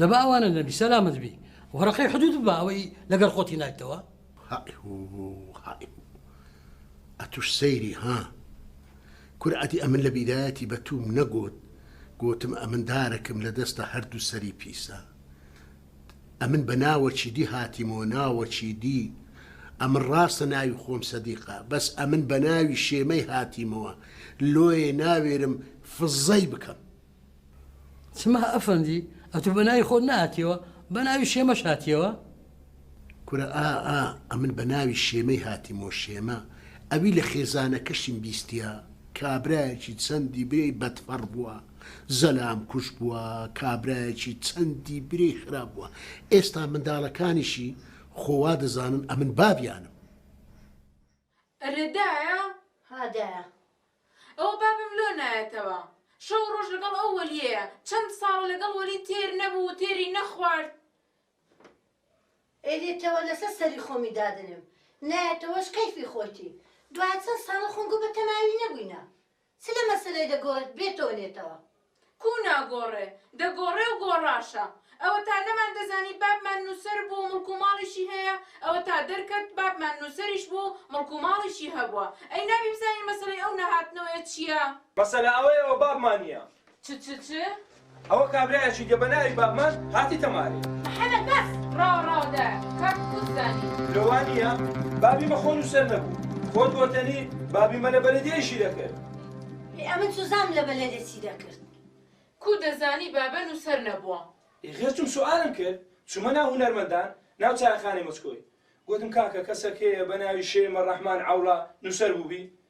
دەبا ئەوانە نەبی سەلامت بی وەرەقەی حدود بە ئەوەی لەگەر خۆتی نایتەوە ئەتوش سەیری ها کورعاتی ئەمن لە بیرایەتی بە توم نەگوت گوتم ئەمن دارەکەم لە دەستە هەردوو سەری پیسە ئەمن بە ناوەکی دی هاتیمەوە ناوەکی دی ئەمن ڕاستە ناوی خۆم سەدیقە بەس ئەمن بە ناوی شێمەی هاتیمەوە لۆیێ ناوێرم فززەی بکەم. سما ئەفەندی ئەتو بە ناوی خۆت نەهاتیەوە بە ناوی شێمەش هاتیەوە؟ کورە ئا ئا ئەمن بە ناوی شێمەی هاتیمەوە شێمە ئەوی لە خێزانەکەشیم بیستیە کابرایەکی چەندی برێی بەدفەڕ بوە. زەلام کوژ بووە کابرایەکی چەندی برێی خراپ بووە ئێستا مندالەکانیشی خۆ وا دەزانن ئەمن بابیانم. ئەرێ دایە؟ ها دایە. ئەوە بابم لۆ نایەتەوە؟ شەو ڕۆژ لەگەڵ ئەو وەلیەیە، چەند ساڵە لەگەڵ وەلی تێر نەبوو و تێری نەخوارد. ئەیلێتەوە لەسەر سەری خۆمی دادەنێم، نایەتەوەش کەیفی خۆیتی، دوای چەند ساڵە خۆم گوو بە تەماوی نەبووینە. چ لە مەسەلەی دەگۆڕێت بێتەوە لێتەوە؟ کوو ناگۆڕێ؟ دەگۆڕێ و گۆڕاشە. ئەوەتا نەمان دەزانی بابمان نووسەر بوو، مڵک و ماڵیشی هەیە، ئەوەتا دەرکەت بابمان نووسەریش بوو، مڵک و ماڵیشی هەبووە. ئەی نابی بزانین مەسەلەی ئەو نەهاتنەوەیە چییە؟ مەسەلە ئەوەیە و بابمان نییە. چ چ چ؟ ئەوە کابرایەکی دێ بە ناوی بابمان هاتیتە مارێ. محەمەد بەس ڕاو ڕاو دە کە کووت زانی. لۆ وا نییە؟ بابی مە خۆ نووسەر نەبوو. خۆت گۆتەنی بابی مە لە بەلەدیە ئیشی دەکرد. ئێ ئەمن چوزام لە بەلەدێ چی دەکرد؟ کوو دەزانی بابە نووسەر نەبووە؟ ئێ غێر چوم سوئالم کرد. چومە ناو هونەرمەندان، ناو چایەخانەی مەچکۆی. گۆتم کاکە کەسەک هەیە بە ناوی شێ مە ڕەحمان عەوڵا نووسەر بووبی؟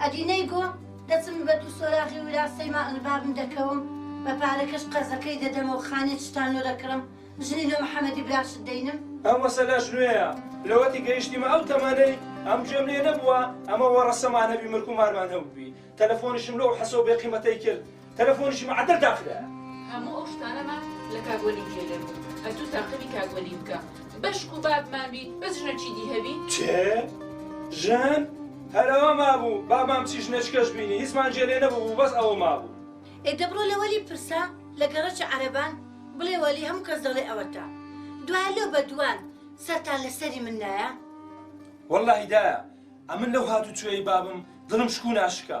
ئەدی نەیگۆ دەچم بە دوو سۆراغی ورا سەیما ڕبابم دەکەوم بە پارەکەش قەرزەکەی دەدەمە و خانێ چتان لۆ دەکڕم ژنی لۆ محەمەدی براشت دەینم. ئەم مەسەلەش نوێیە لەوەتی گەیشتیمە ئەو تەمەنەی ئەم گوێم لێ نەبووە ئەمە وەڕەسەمان هەبی مرکو مارمان هەبووبی تەلەفۆنیشم لۆ حەسەو بێقیمەتەی کرد، تەلەفۆنیشی معەدەل داخرایە. هەموو ئەو شتانەمان لە کاک وەلی جێ لێ بوو ئەتوو تاقمی کاک وەلی بکە بەشک و بابمان بی بەس ژنە چیدی هەبی. کێ؟ ژن؟ هەر ئەوە مابوو بابام چی ژنەچکەش بینی هیچمان جێ لێ نەبووبوو بەس ئەوە مابوو. ئێ دە بڕۆ لە وەلی پرسە لە گەڕەکی عەرەبان بڵێ وەلی هەموو کەس دەڵێ ئەوەتە دوایە لۆ بە دووان سەرتان لە سەری من نایە. وەللەهی دایە ئەمن لەو هاتوو چۆیەی بابم دڵم شکو ناشکا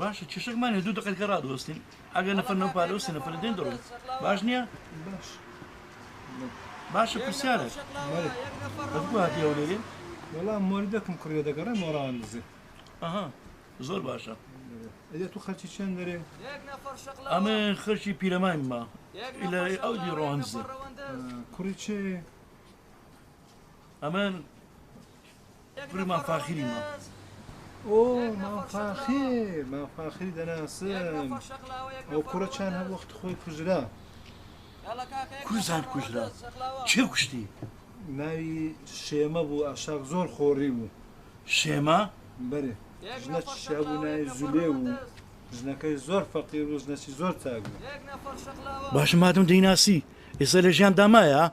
باشە کێشەک مانە دوو دقەت کە ڕادوەستین ئەگەر نەفەر نەو پارە و سنەفەر دێن دەڵێن باش نییە باش باشە پرسیارە هاتی ئەو لێرێ وەڵام مۆری دەکم کڕێ دەگەڕێ مۆڕان دزێ ئەها زۆر باشە ئەێ تو خەرچی چێن دەرێ ئەمە خەرچی پیرەماین ما لە ئەو دی ڕۆنزە کوڕی چێ ئەمە مام فاخری مام ئۆ مام فاخیر مام فاخری دەناسم ئەو کوڕە چیان هەر وەخت خۆی کوژرا کوزان کوژرا چێ کوشتی ناوی شێمە بوو ئاشاق زۆر خۆڕی بوو شێمە بەرێ ژنە چیا بوو ناوی زولێ بوو ژنەکەی زۆر فەقیر و ژنەسی زۆر تاک بوو باشە مادەم دەیناسی ئێستا لە ژیان دامایە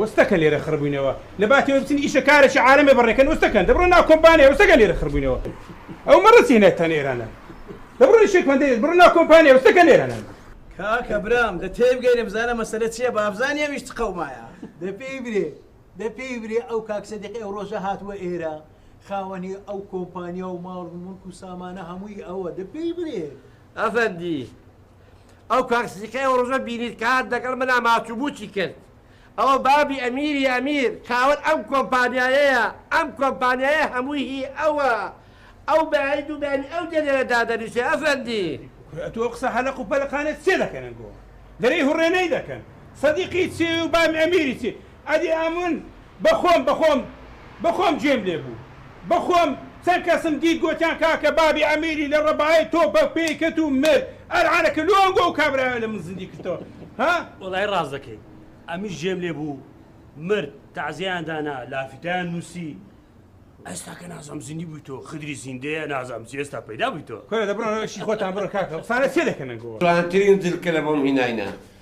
وستەکە لێرە خڕبوینەوە لەباتی ئەوەی بچن ئیشە کارەکی عالەمێ بەڕێکەن وستەکەن دەبڕۆ ناو کۆمپانیا وستەکە لێرە خڕبوینەوە ئەو مەڕەچی هێنایتان ئێرانە دەبڕۆ ئیشێک من دەیەت بڕۆ ناو کۆمپانیا وستەکە لێرە نەن. کاکە برام دە تێبگەیرێ بزانە مەسەلە چیە بابزانی ئەویش چ قەومایە. دە پێی برێ دە پێی برێ ئەو کاک سدیق ئێو ڕۆژە هاتوە ئێرە خاوەنی ئەو کۆمپانیا و ماڵ و مولک و سامانە هەمووی ئەوە دە پێی برێ. ئەفەندی ئەو کاک سیقەی ئەو ڕۆژە بینیت کە هات لەگەڵ منا ماچو موچی کرد ئەوە بابی ئەمیری ئەمیر خاوەن ئەم کۆمپانیایەیە ئەم کۆمپانیایە هەمووی هی ئەوە ئەو بەیانی دوو بەیانی ئەو دێ لێرە دادەنیشێ ئەفەندی. کورە ئەتو ئەو قسە هەلەق و پەلەقانە چیە دەکەنن گو دەرێی هوڕێنەی دەکەن سەدیقی چی و بابی ئەمیری چی ئەدی ئەمن بەخۆم بەخۆم بەخۆم گوێم لێ بوو بەخۆم چەند کەسم دیت گۆتیان کاکە بابی ئەمیری لە ڕەبایە تۆ بە پێی کەت و مرد ئەلعانە کە لۆ ئەنگۆ ئەو کابرایە لە من زندی کردتەوە ها. وەڵای ڕاست دەکەی ئەمیش گێم لێ بوو مرد تەعزێیان دانا لافیتەیان نووسی ئێستا کە نازام زندی بوویتەوە خدری زیندەیە نازام چی ئێستا پەیدا بوویتەوە. کورە دە بڕۆنەوە ئیشی خۆتان بڕۆ کاکە قسانە چێ دەکەن ئەنگۆ. جوانترین جلکە لە بۆم هیناینە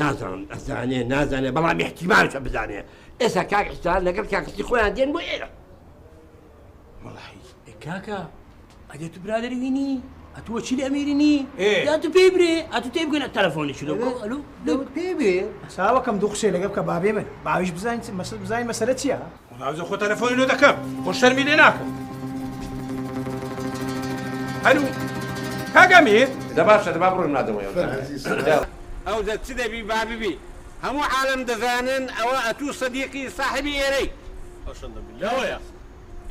نازانم ئەزانێ نازانێ بەڵام احتیمالشە بزانێ ئێستا کاک حسان لەگەڵ کاکسی خۆیان دێن بۆ ئێرە کاکە ئەگە تو برادری وینی ئەتووە چی لە ئەمیرنی یا تو پێی برێ ئەتو تێ بگەن تەلەفۆنی چ پێ برێ ساوەکەم دوو قسێ لەگە بکە بابێ من باویش بزانین مەسل بزانین مەسەرە چیە وڵاوزە خۆ تەلەفۆنی لۆ دەکەم خۆ شەرمی لێ ناکەم هەلو کاگەمی دە باشە دەبا بڕۆن مادەمەوە ئەو دە چ دەبی با ببی هەموو عالم دەزانن ئەوە ئەتوو سەدیقی ساحبی ئێرەی لەوەیە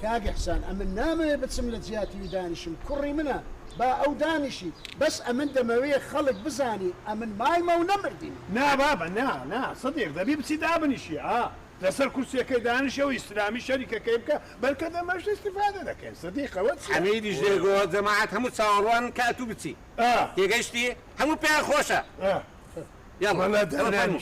کاک حسان ئەمن نامەوێ بچم لە جیاتیوی دانیشم کوڕی منە با ئەو دانیشی بەس ئەمن دەمەوێ خەڵک بزانی ئەمن مایمە و نەمردین نا بابە نا نا سەدیق دەبی بچی دابنیشی ئا لەسەر کورسیەکەی دانیشە و ئیسلامی شەریکەکەی بکە، بەلکە دەمەشت ئیستیفادە دەکەین، سدیق ئەوە چیە؟ حەمیدیش لێ گۆت، جەماعەت هەموو چاوەڕوانن کە ئەتوو بچی، تێگەیشتی؟ هەموو پێیان خۆشە، یەڵڵا ئەوە فەرموو.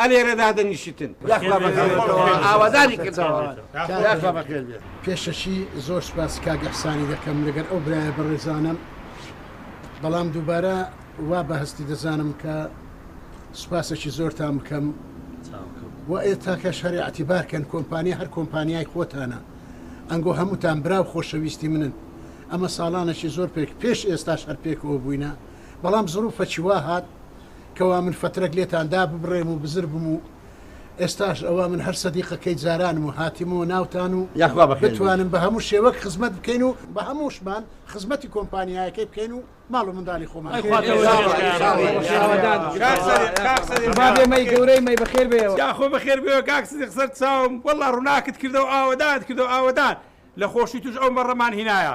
ئەلێرە دادەنیشیتن یاخوا بەخێربێتەوە ئاوادانی کردەوە یاخوا بەخێربێت. پێشەکی زۆر سوپاسی کاک ئیحسانی دەکەم لەگەر ئەو برایە بەڕێزانەم بەڵام دووبارە وا بە هەستی دەزانم کە سوپاسەکی زۆرتان بکەم و ئێتاکەش هەر ئەعتیبار کەن کۆمپانیا هەر کۆمپانیای خۆتانە ئەنگۆ هەمووتان برا و خۆشەویستی منن ئەمە ساڵانەکی زۆر پێک پێش ئێستاش هەر پێکەوە بووینە بەڵام زڕوفەکی وا هات کوا من فترەک لێتان دا ببڕێم و بزر بم و ئێستاش ئەوە من هەر سەدیقەکەی جارانم و هاتیمەوە ناوتان و یاخوا بەخێر بێیت. بتوانم بە هەموو شێوەک خزمەت بکەین و بە هەمووشمان خزمەتی کۆمپانیایەکەی بکەین و ماڵ و منداڵی خۆمان ئەی خوا تۆ بەخێر بێیت. یاخوا بەخێر بێیت. شاوەدان بی. کاک سەدیق کاک سەدیق قوربان بێ مەی گەورەی مەی بەخێر بێیەوە. یاخوا بەخێر بێیەوە کاک سەدیق سەر چاوم وەڵا ڕوناکت کردەوە ئاوەدانت کردەوە ئاوەدان لە خۆشی توش ئەو مەڕەمان هینایە.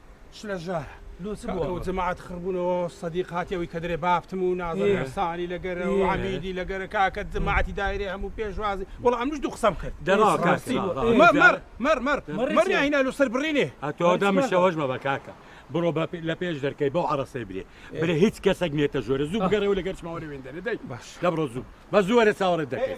چ لە ژارە لۆ چ بووە؟ کاتەوە جەماعەت خڕ بوونەوە سەدیق هاتی ئەوی کە درێ باپتم و نازم ئێ. حسانی لە گەرە و ئێ. عەمیدی لە گەرە کاکە جەماعەتی دایرەی هەموو پێشوازی وەڵا ئەمنیش دوو قسەم کرد دە ڕاو کاکە، ڕاستی ڕا- ڕا- بوو. مە- مەڕ مەڕ مەڕ مەڕی مەڕی چێ؟ ئەینا لۆ سەر بڕینێ ئەتۆ دە مشەوەش مەبە کاکە بڕۆ بە لە پێش دەرکەی بەو عەڕەسەی برێ برێ هیچ کەسەک نیەتە ژۆرە زوو بگەڕێوە لەگەر چماوە لە وێندە لە دەی باش. دە بڕۆ زوو بە زوو وەرە چاوەڕێت دەکەین.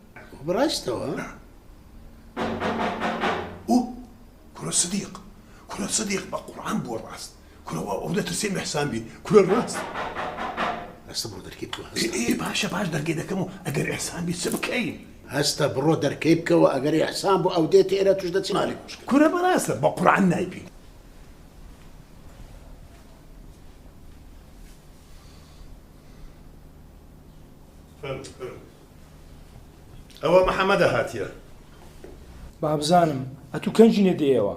بەڕاستەوە ئوو کورە سدیق کورە سدیق بە قورعان بووە ڕاست کورەوە ئەو دەترسێ مەحسان بی کورە ڕاست ئەسە بۆ دەرکی تو ئێ باشە باش دەرگێ دەکەم و ئەگەر ئەحسان بی چ بکەین هەستە بڕۆ دەرکەی بکەوە ئەگەر ئەحسان بۆ ئەو دێت ئێرە توش دەچی مالی کوشک کورە بەڕاستە بە قورعان نایبین Thank you. ئەوە محمدە هاتیە. بابزانم ئەتو کەنجی نە دێیەوە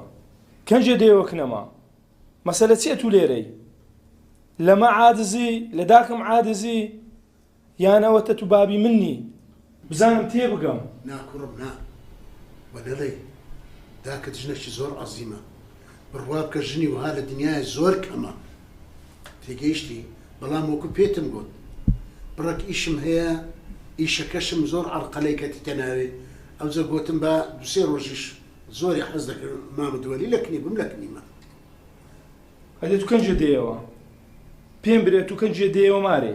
کەنجێ دێوە کنەما مەسەلە چی ئەتو لێرەی لەمە عادزی لە داکم عادزی یانەوە تە تو بابی منی بزانم تێ بگەم ناکوڕم نا وە نەڵێی داکت ژنەکی زۆر عەزیمە. بڕوا بکە ژنی وەها لە دنیایە زۆر کەمە تێگەیشتی بەڵام وەکو پێتم گوت بڕەک ئیشم هەیە ئیشەکەشم زۆر عەرقەلەی کەتیتە ناوێ ئەوجە گوتم با دوسێ ڕۆژیش زۆری حەز دەکرد مام دووەلی لە کنی بم لە کنیمە ئەدێ تو کەنجێ دێیەوە پێم برێ تو کەنجێ دێیەوە مارێ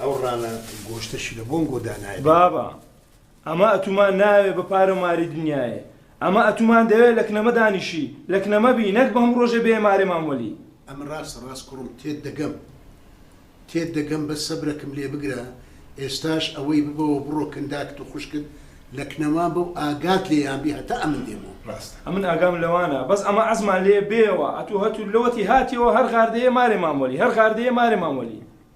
ئەو ڕانە گۆشتەشی لە بۆنگۆ دا نایەت. بابە ئەمە ئەتوومان ناوێ بە پارە ماری دنیایێ ئەمە ئەتوومان دەوێ لە کنەمە دانیشی لە کنەمە بی نەک بەم ڕۆژێ بێ مارێ مام وەلی. ئەمە ڕاستە ڕاست کوڕم تێت دەگەم تێت دەگەم بەس سەبرەکم لێ بگرە ئێستاش ئەوەی ببەوە بڕۆ کن داکت و خوشکت لە کنەما بە و ئاگات لێیان بی هەتا ئەمن دێمەوە. ڕاستە ئەمن ئاگام لەوانە بەس ئەمە عەزمان لێ بێیەوە ئەتوو هەتوو لەوەتی هاتیەوە هەر غاردەیێ مارێ مام وەلی هەر غاردەیێ مارێ مام وەلی.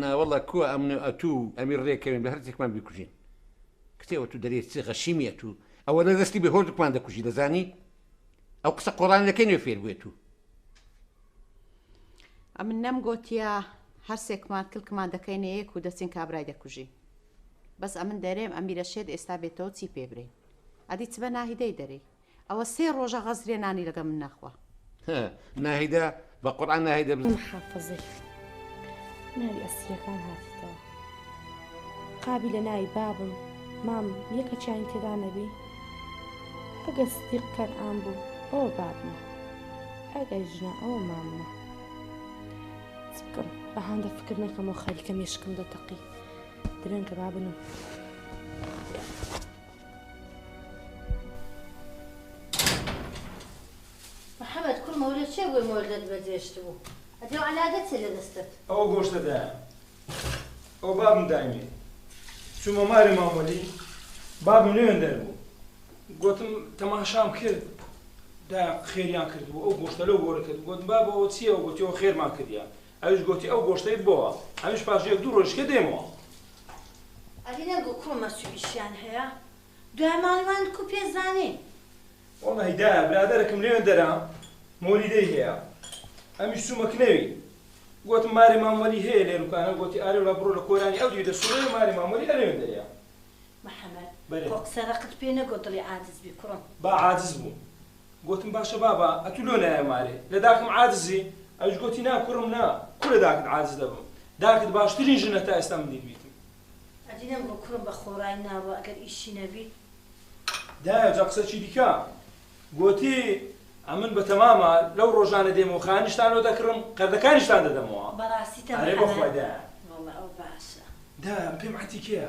ناوەڵا کوە ئەمن و ئەتو و ئەمیر رێکەوین بەهەرتێکمان بیکوژین کتێوە تو دەرێ چ غەشیمی ئەتو ئەوە لە دەستی بێ هۆدکمان دەکوژی دەزانی ئەو قسە قۆڕان لەکەی نوێ فێر بوێت و ئەمن نەم گۆتیە هەرسێکمان کلکمان دەکەینە یەک و دەچین کابرای دەکوژی بەس ئەمن دەرێم ئەمیرە شێت ئێستا بێتەوە چی پێ برین ئەدی چ بە ناهیدەی دەری ئەوە سێ ڕۆژە غەزرێ نانی لەگەڵ من نەخوا. هە ناهیدە بە قورعان ناهیدە بزن. محافظی ناوی ئەسیرەکان هاتیتەوە قابی لە ناوی بابم مام یەکە چیانی تێدا نەبی ئەگەر سدیق کەن ئان بوو ئەوە بابمە ئەگەر ژنا ئەوە ماممە چ بکەم بە هاندە فکر نەکەمەوە خەریکە مێشکم دەتەقی درەنگە بابنم محمد کورمە وەلێ چێ بووی مۆردت بە جێشت بوو ئەدێ و عەلا دەچێ لە دەستت. ئەوە گۆشتە دایە ئەوە بابم دایمێ چوومە مارێ مامەلی بابم نوێن دەربوو گوتم تەماشام کرد دا خێریان کردبوو ئەو گۆشتە لەو گۆرە کرد گوت بابەوە چیەوە گوتیەوە خێرمان کردیان ئەویش گۆتی ئەو گۆشتەی بۆوە. ئەمیش پاش یەک دوو ڕۆژیش کە دێمەوە. ئەری نەگۆ کوو مەچ و ئیشیان هەیە دوای ماڵی وان کوو پێ زانین. وەڵاهی دایە برادەرەکم لەوێندەرە مۆلیدەی هەیە ئەمیش چوومە کنەوی گۆتم مارێ مام وەلی هەیە لێروکانە گۆتی ئارێ وەلا بڕۆ لە کۆرانی ئەو دیویتە سوڕەیە مارێ مام وەلی ئەلەوێندەرەیە. محمد خۆ قسە ڕەقت پێ نەگۆ دڵی عاجز بی کوڕم. با عاجز بوو. گۆتم، باشە بابا ئەتوو لۆ نایە مارێ لە داکم عاجزی؟ ئەویش گۆتی، نا کوڕم نا، کوو لە داکت عاجز دەبم؟ داکت باشترین ژنە تا ئێستا من دیتبیتم. ئەدی نەمگۆ کوڕم بە خۆڕای ناوە ئەگەر ئیشی نەبیت؟ دایە جا قسەکی دیکە. گۆتی، ئەمن بە تەما مار لەو ڕۆژانە دێمەوە خانیشتان لۆ دەکڕم، قەردەکانیشتان دەدەمەوە. بەڕاستی تەما ئەرێ بەخوای دایە. وەڵا ئەوە باشە. دایە پێم عەتیکەیە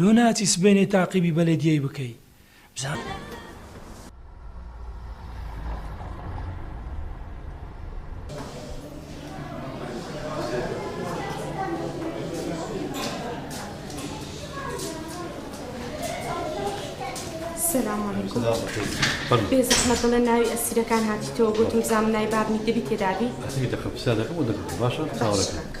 لۆ ناچی سبەینێ تاقیبی بەلەدیەی بکەی بزانە. سلام علیکم بێزەحمەت بڵێ ناوی ئەسیرەکان هاتیتەوە گۆتم بزانم ناوی بابنی دەبی تێدابی. ئەسیری دەقە پرسیار دەکەم بۆ دەقەکە باشە چاوەڕێ کە.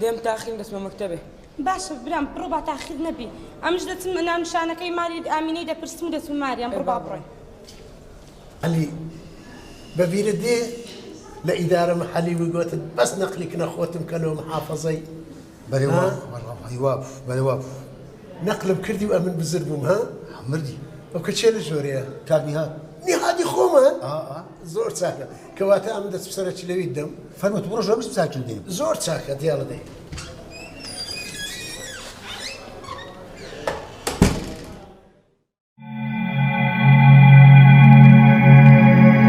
دێم تاخیم دەچمە مەکتەبێ. باشە برام بڕۆ با تاخیر نەبی ئەمش دەچم ناونیشانەکەی ماری ئامینەی دەپرسم و دەچم ماریان بڕۆ با بڕۆین. عەلی بە بیرت دێ لە ئیدارە محەلی وگۆتت بەس نەقلی کنە خۆتم کە لۆ محافەزەی نەقلم کردی و ئەمن بزر بووم ها؟ مردی. ئەو کە چێ لە ژۆرەیە؟ کاک نیهاد. نیهادی خۆمان؟ ئا ئا. زۆر چاکە. کەواتە ئەمن دەچم سەرە چلەویت دەم. فەرموو، بڕۆ ژۆر بچ چاکیو دەی. زۆر چاکە، دیاڵە دەی.